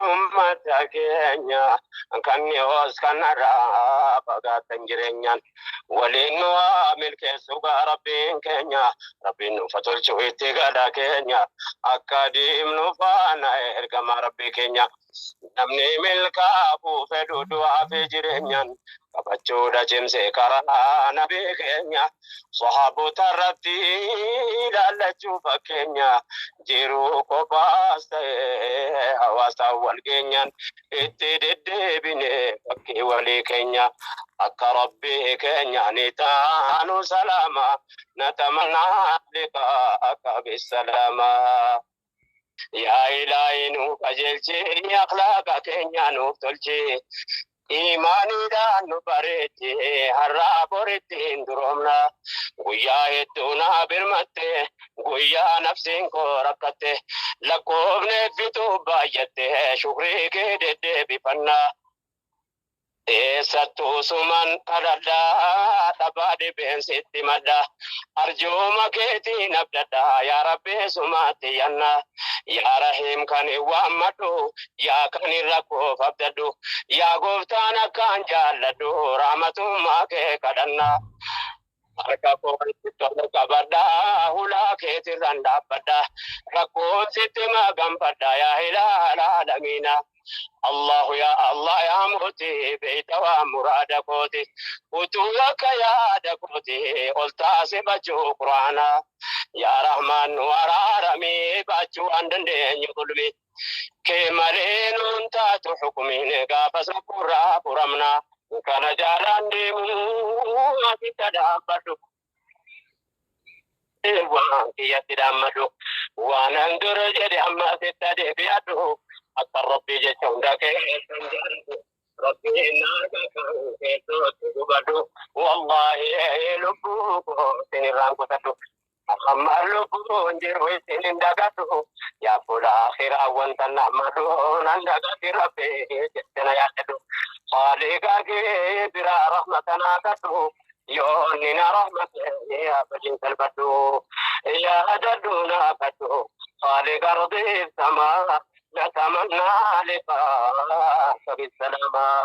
ummata keenya kan dhiyoos kan har'aa fagaatan jireenyaan waliin nu haa milkeessu gaa rabbiin keenya rabbiin nuuf haa tolchu itti gala keenya akka deemnu faana ergama rabbii keenya namni milkaa'uu fedhu du'aa fi jireenyaan qabachuudha cimsee karaa nabii keenya Sahaaboota irratti ilaallachuu fakkeenya jiruu kophaas ta'e hawaasaan wal geenyaan itti deddeebine fakkii walii keenya akka rabbii keenya ni taanu salaama natamannaa liqaa akka bisalaama. Yaa ilaahii nu qajeelchi ilmi akhlaaqa keenya nuuf tolchi. Imaaniidhaan nu bareechi har'aa boritti hin duroomna. Guyyaa hedduu na birmatte guyyaa nafsiin koo rakkatte. Lakkoofne fituu baay'atte shukrii kee deddeebifanna. Eessattu usuman kadhadha dhabaa dhibeen sitti madda arjooma keetiin abdadha yaa rabbi sumaatti yanna yaa rahiim kan hin waammadhu yaa kan hin rakkoof abdadhu yaa gooftaan akkaan jaalladhu raamatummaa kee kadhanna Harka koo walitti tolu qabadha, hulaa keetirran dhaabbadha. Rakkoon sitti maganfadha, yaa ilaal aalamiina. Allahu yaa Allah yaa mooti, beeyta waan muraada kooti. Utuu akka yaada kooti, ol taase bachuu Qur'aana. Yaa Rahmaan nu araarami, baachuu waan dandeenyu gulmi. Kee malee nuun taatu xuqmiin gaafa sukkurraa furamna. Kana jaalaan deemuu asitta dhaabbadhu. Waan kiyyatti dhaammadhu. Waanan dur jedhe amma asitta deebi'adhu. Akka rabbii jecha hunda keessan jaalladhu. Rabbiin naarga kan keessootti gubadhu. Wallaahi lubbuu koo sinirraan kutadhu. Amma lubbuun jiru isin hin dagadhu. Yaa fuula akhiraa wanta nama duun an dagati rabbi jettana yaadadhu. Haaliiqaa kee biraa rahmata naa kadhu. Yoo inni na rahmate ni abadiin salphadhu. Yaadadhu naa kadhu. Haaliiqa rabbiif samaa na tamannaa lifaa sabi salaamaa.